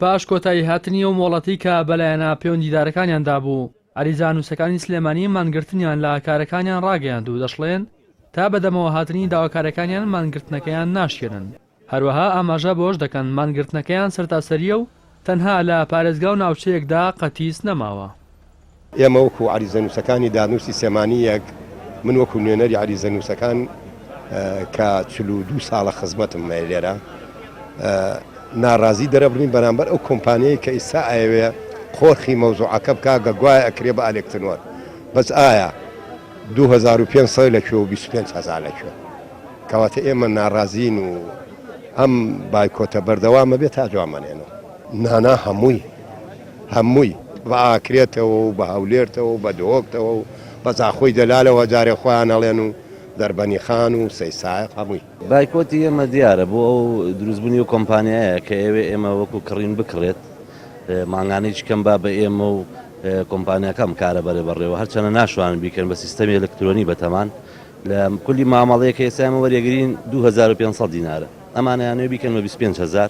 پاش کۆتایی هاتنی ئەو مۆڵەتی کە بە لایەنە پێوەندیدارەکانیان دابوو، عەریزانووسەکانی سلێمانی مانگرتنیان لە کارەکانیان ڕاگەیاند و دەشڵێن، تا بەدەمەوە هاتنی داواکارەکانیان مانگرتنەکەیان ناشکێنن. هەروەها ئاماژە بەوەش دەکەن، مانگرتنەکەیان سەرتاسەرییە و تەنها لە پارێزگا و ناوچەیەکدا قەتیس نەماوە. ئێمە وەکو عەریزەنووسەکانی دارنووسی سێمانی یەک، من وەکو نوێنەری عەریزەنووسەکان کە چل و دوو ساڵە خزمەتم هەیە لێرە، ناڕازی دەرەبڕین بەرامبەر ئەو کۆمپانیەی کە ئیستا ئەیەوێ قۆرخی مەوزوعەکە بکا گە گوایە ئەکرێ بە ئەلێکترۆن، بەس ئایا دوو هەزار و پێنج سەد لە کوێ و بیست و پێنج هەزار لە کوێ؟ کەواتە ئێمە ناڕازین و ئەم بایکۆتە بەردەوامە بێ تا جوامەنێنەوە. نانا هەمووی هەمووی بە ئاکرێتەوە و بە هەولێرتەوە و بە دهۆکتەوە و بە زاخۆی دەلالەوە جارێ خۆیان ئەڵێن و دەربەنی خان و سەی سایەق هەمووی. بایکۆتی ئێمە دیارە بۆ ئەو دروست بونی ئەو کۆمپانیایە کە ئەیەوێ ئێمە وەکو کڕین بکڕێت مانگانە هیچ کەم با بە ئێمە و کۆمپانیاکە ئەم کارە بەرێ بەڕێوە هەرچەنە ناشوانن بیکەن بە سیستەمی ئەلکترۆنی بەتەمان لە کولی مامەڵەیەکە ئێستا ئێمە وەریەگرین دوو هەزار و پێنج سەد دینارە ئەمانەیانەوێ بیکەن بە بیست و پێنج هەزار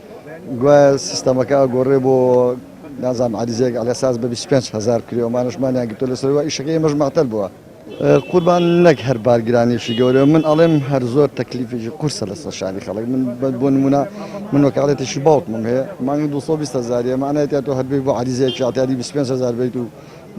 گوایە سیستەمەکە ئەگۆڕێ بۆ نازام عریزەیەک ئەلەساس بە 25 هزار کری ئەمانشمانیان گرتو لەسەرەوە ئیشەکە ئێمەش مەعتەل بووە قوربان نەک هەر بارگرانیشی گەورە من ئەڵێم هەر زۆر تەکلیفێکی قورسە لەسەر شانی خەڵک من بۆ نمونە من وەکالەتێکی باوکمم هەیە مانگی 220 هزاریە مانایەتە تۆ هەربێ بۆ عریزەیەکی عتیادی 25 هزار بیت و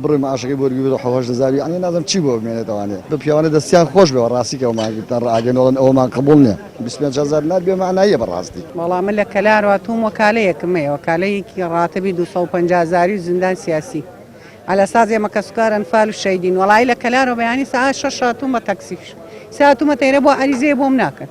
بڕۆی معاشەکەی بۆ وەربگرە حەو هەشت هەزار یەعنی نازم چی بۆ بمێنێت ئەوانێ بە پیاوانە دەستیان خۆش بێ وەڕاستی کە وەمان گرتە ڕاگەن وەڵن ئەوەمان قبوڵ نیە بیست پێنج هەزار نار بێ مەعناییە بەڕاستی. وەڵا من لە کەلار هاتووم وەکالەیەکم هەیە وەکالەیەکی ڕاتبی دوو سەد و پەنجا هەزاری و زیندان سیاسی عەلی ئەساس ئێمە کەسوکار ئەنفال و شەیدین وەڵایی لە کەلارەوە بەیانی سەعات شەش هاتووم بە تەکسی سەعات هاتوومەتە ئێرە بۆ عەریزەیە بۆم ناکەن.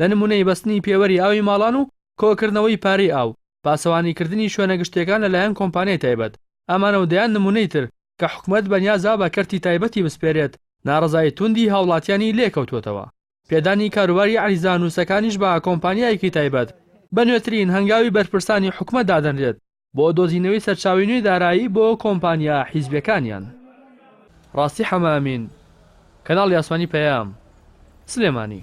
لە نموونەی بەستنی پێوەری ئاوی ماڵان و کۆکردنەوەی پارەی ئاو، پاسەوانیکردنی شوێنە گشتییەکان لەلایەن کۆمپانیای تایبەت، ئەمانە و دەیان نموونەی تر کە حکومەت بەنیازە بە کەرتی تایبەتی بسپێرێت، ناڕەزایی توندی هاوڵاتیانی لێکەوتووەتەوە. پێدانی کاروباری عەریزانووسەکانیش بە کۆمپانیایەکی تایبەت، بە نوێترین هەنگاوی بەرپرسانی حکومەت دادەنرێت بۆ دۆزینەوەی سەرچاوەی نوێی دارایی بۆ کۆمپانیا حیزبییەکانیان. ڕاستی حەمە ئەمین، کەناڵی ئاسمانی پەیام، سلێمانی.